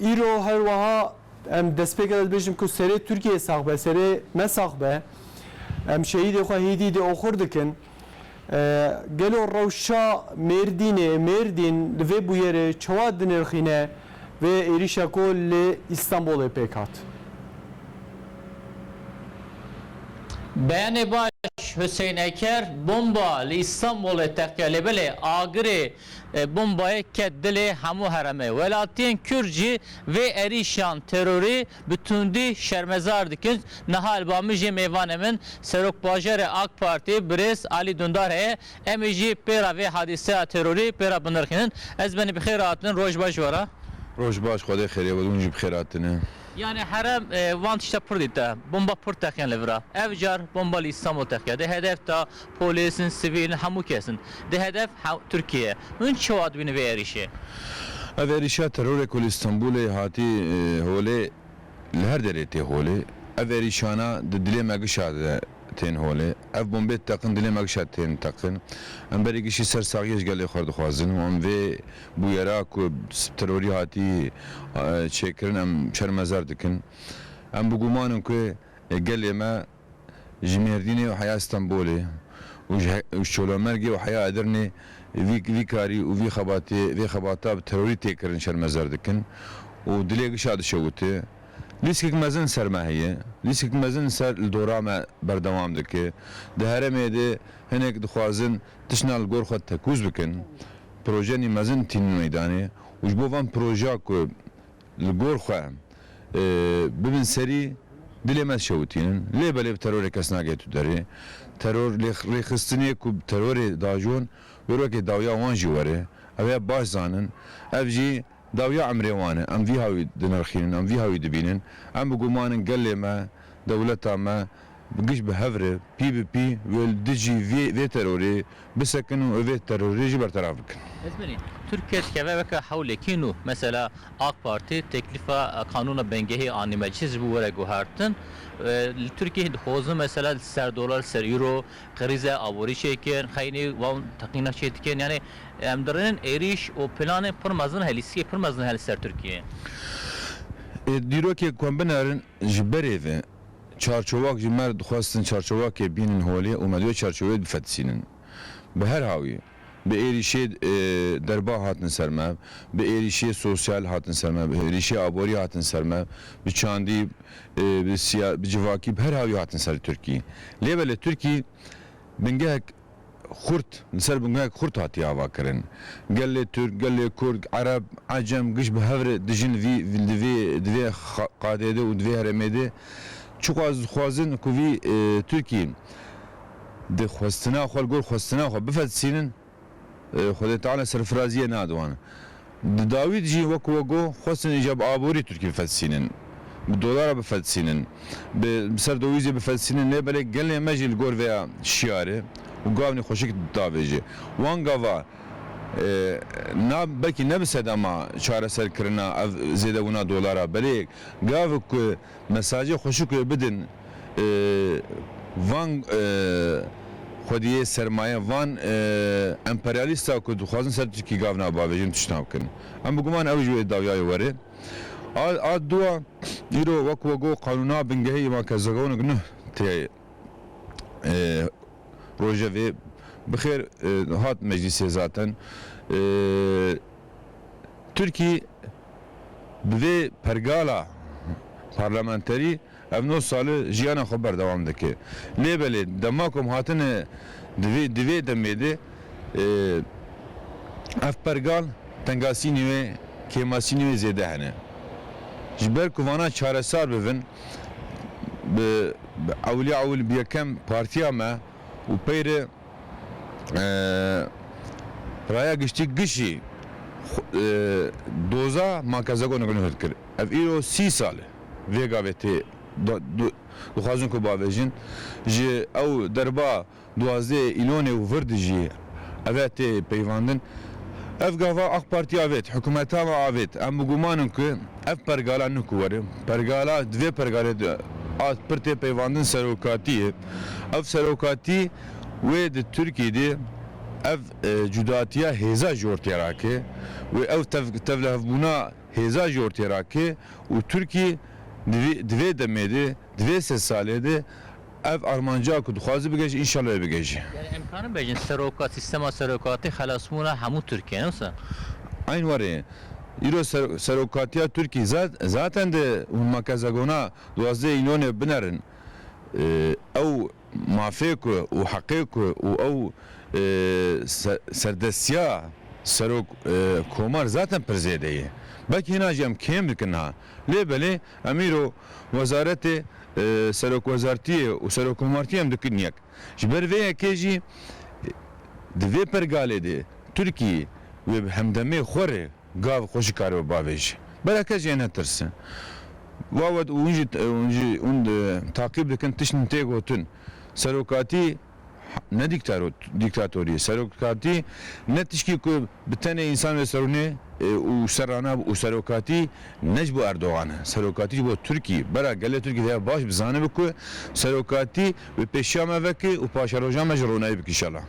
Îro her wiha em destpêke de dibêjin ku serê Tirkiyeyê sax be, serê me sax be. Em şehîdê xwe hêdî dê oxir dikin. Gelo rewşa Mêrdînê, Mêrdîn li vê bûyerê çawa dinirxîne vê êrîşa ku li Îstanbulê pêk hat? Beyanê baş, Huseyneker, Bomba li Îstanbulê, Teqelebelê, Agirê, Bombayê ket dilê hemû heremê. Welatiyên Kurd jî vê êrîşan terorî bi tundî şermezar dikin. Niha li Bamijê mêvanê min Serokbajarê AK Partî birêz Alî Dundar heye. Em ê jî pê re vê hadîseya terorî pê re binirxînin. Ez benî bi xêr hatinin. Roj baş ji we re. Roj baş, Xwedê xêrê were, hûn jî bi xêr hatine. Yanî herem van tişta pir dîte. Bomba pir teqîn li vir e. Ev car bomba li Îstanbul teqiya. Di hedef de Polîs in, sivîl in hemû kes in. Di hedef Tirkiye ye. Hûn çawa dibînin vê êrîşê? Ev êrîşa terorê ku li Stenbolê hatî holê li her derê tê holê. Ev êrîşana di dilê me gişa de tên holê. Ev bombê diteqin dilê me gişa tên teqin. Em berî gişî ser saxiyê ji gelê xwe dixwazin û em vê bûyera ku bi terorî hatî çêkirin em şermezar dikin. Em bi guman in ku gelê me. Ji Mêrdînê û heya Stenbolê û ji ji Çolomergê û heya Edirnê vî vî karî û vî xebatê vê xebata bi terorî tê kirin şermezar dikin û dilê giş a dişewite. Lîskek mezin li ser me heye. Lîskek mezin li ser li dora me berdewam dike. Di herêmê de hinek dixwazin tiştna li gor xwe tekûz bikin. Projenî mezin tînin meydanê û ji bo van proja ku Li gor xwe em bibin serî dilê me dişewitînin. Lê belê bi terorê kes nagê tu derê. Teror lê rêxistinê ku bi terorê diajon wêr wekê dawiya wan jî were. Ew ê baş zanin. Ev jî dawiya emrê wan e. Em vî hawî dinirxînin, em vî hawî dibînin. Em bigumanin gelê me, dewleta me Bi giş bi hev re pî bi pî wê li dijî vê terorê bisekin û ev vê terorê jî berteraf bikin. Ez benî Tirk keç keve weke hewlekî nû. Mesela AK Partî teklîfa qanûna bingehî anî meclîs ji bo were guhertin. Li Tirkiyeyê dixwazin mesela li ser dolar, li ser euro krîze aborî çêkin. Xeynî wan teqîna çê dikin. Yanî em dirênin êrîş û planên pir mezin hene, lîstikên pir mezin hene li ser Tirkiyeyê. Dîrokê ku em binerin Ji berê ve çarçowak jî me dixwestin çarçowakê bînin holê û me divê çarçowê bifetisînin. Bi her hawî bi êrîşê derba hatin ser me, bi êrîşê sosyal hatin ser me, bi êrîşê aborî hatin ser me, bi çandî, bi civakî bi her hawî hatin ser Tirkî. Lê belê Tirkî bingehek. Xurt, li ser bingehek xurt hatiye avakirin. Gelê Tirk, gelê Kurd, Ereb, Ecem giş bi hev re dijin li vî li vê di vê qadê de û di vê herêmê de. Çiqas dixwazin ku vî Tirkî di xwestina xwe li gor xwestina xwe bifetisînin, Xwedê Teala serfiraziyê nade wan. Di dawî de jî wek we got, xwestin îcar bi aborî Tirkî bifelsînin, bi dolara bifelsînin, bi ser dowîzê bifelsînin lê belê gelê me jî li gor vêya şiyarê û gavnê xweşik davêje. Wan gava na belkî ne bi sedema çareserkirina ev zêdebûna dolara belê gavik ku mesajê xweşik wê bidin, van xwediyê sermaye, van emperyalîsta ku dixwazin ser Tirkî gavna bavêjin tiştna bikin. Em bi guman ew jî wê dawiyayê were. A a dua îro wek we got qanûna bingehê î van Kezegonik nuh tê rojevê bi xêr hat meclîsê zaten. Tirkî bi vê pergala parlamenterî Ev nod sali jiyana xwe berdewam dike. Lê belê dema ku em hatine di vê demê de ev pergal tengasînê wê, kêmasînê wê zêde hene. Ji ber ku vana çaresar bibin bi ewilî ewil bi yekem partiya me û pey re Raya Giştî Gişî doza Makezeko Nagino hêlkir. Ev îro sî sal e. Vê gavê tê dixwazin ku bavêjin, ji ew derba duwazdeh îlonê û vir dijî ev e tê peyvandin. Ev gava Ak Partî avêt, hikûmeta me avêt. Em bi guman in ku ev pergala ne ku were, pergala di vê pergalê de a pir tê peyvandin serokatî ye. Ev serokatî wê di Tirkiyê de ev cudatiya hêza ji ortaya rake û ew tevlihevbûna, hêza ji ortêrake û Tirkî di vê demê de, di vê sed salê de ev armanca ku dixwaze bigeje înşallah ê bigeje. Yani em karin bejin seroka sîstema serokatî xelasbûna hemû Tirkiyê ne wisa? Eyn warê. Îro serokatiya Tirkî zaten di hûn makezagona duwazdeh îlonê binerin ew Mafê ku û heqê ku û ew serdestiya serok komar zaten pir zêde ye. Belkî hêna jî em kêm dikin niha. Lê belê em îro wezaretê serokwezartiyê û serokomartiyê em dikin yek. Ji ber vê yekê jî di vê pergalê de Tirkî wê bi hemdemê xwe re, Gav xwe jî karibe bavêje. Bela kes jê netirsin. Wawet û hûn jî hûn taqîb dikin tiştên tê gotin. Serokatî ne dîktatorî ye. Serokatî ne tiştî ku bi tenê însan ve serûne û serrana û serokatî ne ji bo Erdogan e. Serokatî ji bo Tirkî. Bela gelê Tirkî dê ev baş bizanibe ku serokatî Bi pêşiya me vekê û paşeroja me ji ronayê bikî şela.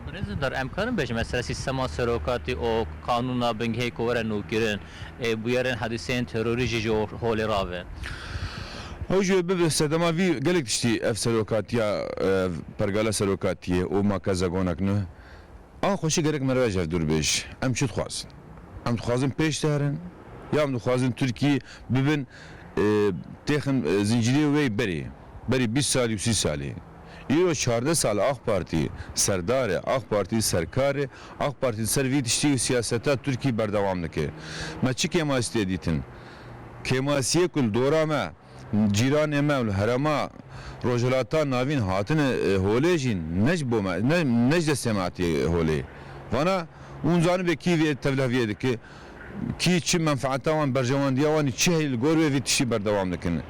Birêz Dindar, em karin bêjin me sere sîstema serokatî û qanûna bingehê ku were nûkirin ê bûyerên hedîseyên terorî jî ji holê rabe? Ew ji wê bibe sedema vî gelek tiştî ev serokatiya ev pergala serokatiyê û ma ke zegonek ne. Axa xweşik gerek merivê ji hev dûr bêj. Em çi dixwazin? Em dixwazin pêş de herin ya em dixwazin Tirkiyê bibin têxin zîncîrê wê berê? Berî bîst salî û sî salî. Îro çardeh sal Ak Partî serdar e, Ak Partî serkar e, Ak Partî li ser vî tiştî û siyaseta Tirkî berdewam dike. Me çi kêmasî tê dîtin? Kêmasiyê ku li dora me, cîranê me û li herêma Rojhilata Navîn hatine holê jî ne ji bo me, ne ji destê me hatiye holê. Vana, hûn zanibê kî vê tevliheviyê dike? Kî, çi menfaeta wan, berjewandiya wan ê çi heye li gor wê vê tiştî berdewam dikin.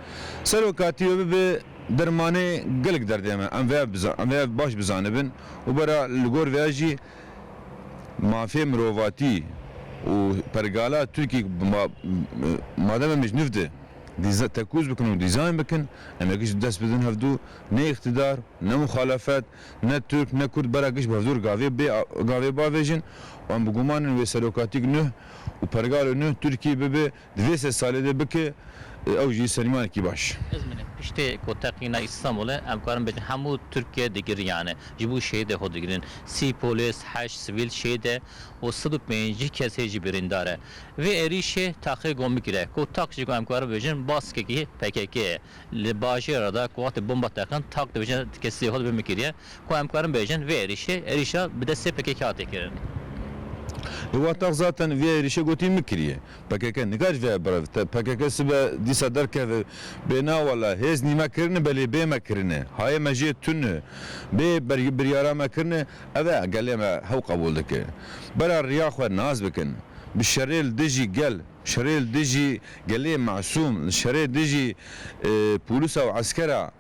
Serokatî wê bibe dermanê gelek derdê me. Em vê ev bizan, em vê ev baş bizanibin û bera li gor vê ya jî mafê mirovatî û pergala Tirkî ma madem em ê ji niv de dîza tekûz bikin û dîzayn bikin, em ê giş bi dest bidin hevdu, ne îktidar, ne muxalefet, Ne Tirk ne Kurd bera kişt bevdor gavê bê gavê bavêjin û em bi guman in wê serokatîk nuh û pergalo nuh Tirkî bibe di vê sed salê de bike ew jî sermîyanekî baş. Ez min e. Piştê ku teqîna Îstanbulê em karin bêjin hemû Tirkiye digiriyane. Ji bo şehîdê xwe digirin. Sî polîs, heşt sivîl şehîd e û sed û pêncî kes hê jî birîndar e. Vê êrîşê taxê gomikî re ku tak jî ku em karin bêjin baskekî pkk ye. Li bajêra de ku wextê bomba teqin tak dibêjin kesî holbê min kiriye ku em karin bêjin vê êrîşê êrîşa bi destê pkk hate kirin. Li wan tak zaten vê êrîşê gotî min kiriye. Pkk nikariş veye birev. Pkk sibe dîsa derkeve bê na wela hêz nî me kirine belê bê me kirine. Hayê me jê tune. Bê biryara me kirine. Ev e gelê me hew qebûl dike. Bera riya xwe nas bikin. Bi şerê li dijî gel. Şerê li dijî gelê masûm, li şerê dijî polîsa û eskera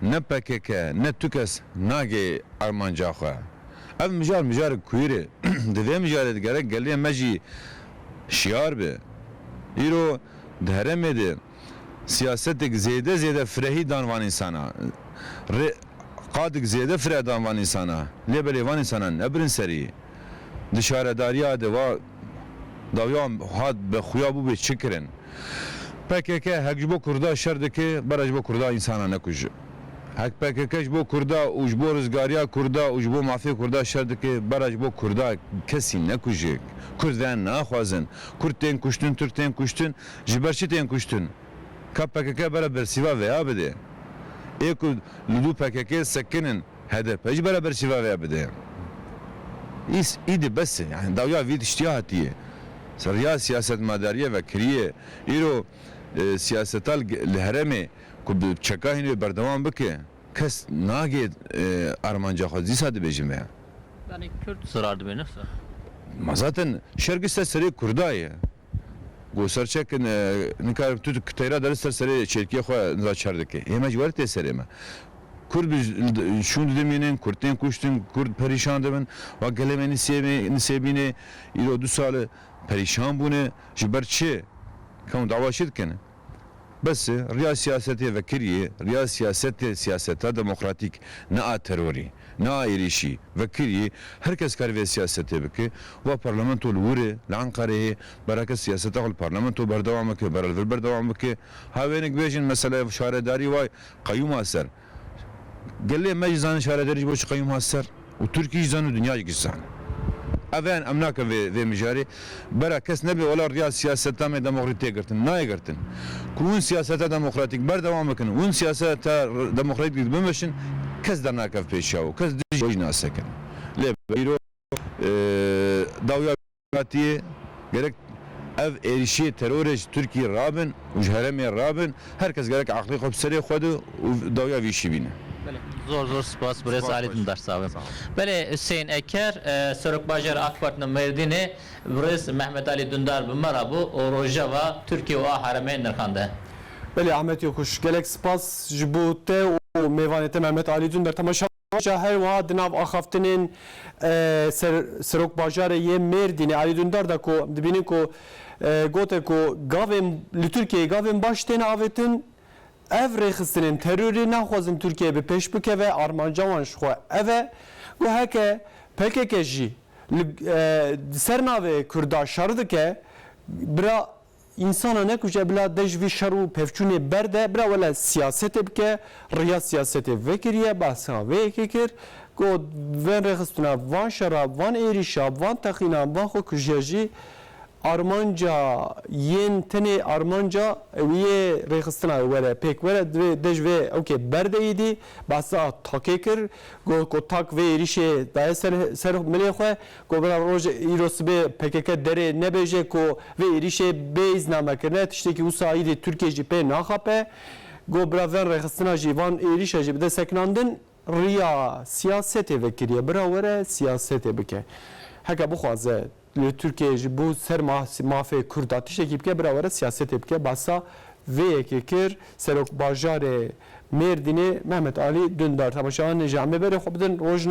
ne pkk ne tu kes nagê armanca xwe. Ev mijar mijarek kuir e. Di vê mijarê de gerek gelê me jî şiyar be. Îro di heremê de. siyasetik zêde zêde firehî dan van însana. Rê qadik zêde fireh dan van însana. Lê belê van însana nebirin serî. Di şaredariya de va dawiya hat bi xuya bûbê çi kirin. Pkk hek ji bo kurda şer dike bera ji bo kurda însana nekuj. Hek pkk ji bo kurda û ji bo rizgariya kurda û ji bo mafê kurda şer dike bera ji bo kurda kesî nekuje. Kurd ve naxwazin. Kurd tên kuştin, Tirk tên kuştin. Ji ber çi tên kuştin? Ka pkk bere bersîva vêya bidê? Ê ku li dû pkk sekin in hdp jî bere bersîva vêya bidê? Îs îdi bes e yanî dawiya vî tiştîya hatîye ser riya siyasetmedarîye vekirîye. Îro siyaseta li herêmê ku bi çeka hîn wê berdewam bike kes nagê armanca xwe dîsa dibêjin vêya. Yanî kurd zirar dibêjin nifs e? Ma zaten şer giş ser serê kurda ye. Ku ser çek in nika tu teyra dere ser serê çêrkiyê xwe niza çar dikê. Hê me ji werî tê serê me. Kurd bi şûn didin mînin, kurd tên kuştin, kurd perîşan dibin. Wek gelê me Nisêbê, Nisêbînê îro du sal e perîşan bûne. Ji ber çi? Kewin dava çi dikin? Bes e, riya siyasetê vekiriyê, riya siyasetê siyaseta demokratîk, ne a terorî, ne a êrîşî, vekiriyê, her kes karê vê siyasetê bike, wa parlamento li wir e, li Enqereyê ye, bera kes siyaseta xwe li parlamento berdewam bike, bera li vir berdewam bike, ha wêne ki bêjin mesela şaredarî wa qeyûma ser. Gelê me jî zanîn şaredarî ji bo çi qeyûm hat ser û Tirkî jî zan û dinya jî giş zan. Ev ên em nakin vê vê mijarê. Bera kes nebê wela riya siyaseta me demokratîk tê girtin. Nayê girtin. Ku hûn siyaseta demokratîk berdewam bikin, hûn siyaseta demokratîk dî bimeşin kes dernakeve pêş çaw û kes dijî wê jî nas sekin. Lê îro dawya. Hatî, Gerek ev êrîşê terorê ji Tirkîyê rabin û ji herêmê rabin, her kes gerek eqlê xwe bi serê xwe de û dawiya vî îşî bîne. Belê, zor zor spas birêz Alî Dindarsawi. Belê, Husên Eker, Serokbajêr AK Parti li Mêrdînê, Birêz Mehmet Alî Dundar bi me re bû û rojeva Tirkîyê û a herêmê nirxande. Belê, Ahmet Yokuş, Gelek spas ji bo te û mêvanê te Mehmet Alî Dundar, temaşa Roja her wiha di nav axaftinên serokbajarê yê Mêrdînê Alî Dundar de ku dibînin ku gote ku gavên li Tirkiyeyê gavên baş têne avêtin, ev rêxistinên terorê naxwazin Tirkiye bi pêş bikeve, armanca wan ji xwe ev e. Got heke pkk jî li ser navê Kurda şer dike, bira Însana nekuje bila de ji vî şer û pevçûnê ber de bira wele siyasetê bike, riya siyasetê vekiriye, behsa vê yekê kir, got, Vên rêxistina van şera, van êrîşa, van teqînan, van xwekujiya jî armanca yên tenê armanca wî yê rêxistina wê were pêk were divê de ji vê ewkê ber de êdî, behsa takê kir, got, Ku tak vê êrîşê daye ser milê xwe, Komila Roj îro sibê pkk derê nebêje ku vê êrîşê bê îzname kirine, tiştekî wisa îdî Tirkiye jî pê naxape. Got bira ven rêxistina jî van êrîşa jî bide sekinandin. Riya siyasetê vekiriye. Bira were siyasetê bike. Heke bixwaze li Tirkiyeyê ji bo ser mafê Kurd a tiştekî bike bira were siyasetê bike. Basa vê yekê kir Serokbajarê Mêrdînê Mehmet Alî Dundar. Temaşeyan ji emê berê xwe bidin. Rojna.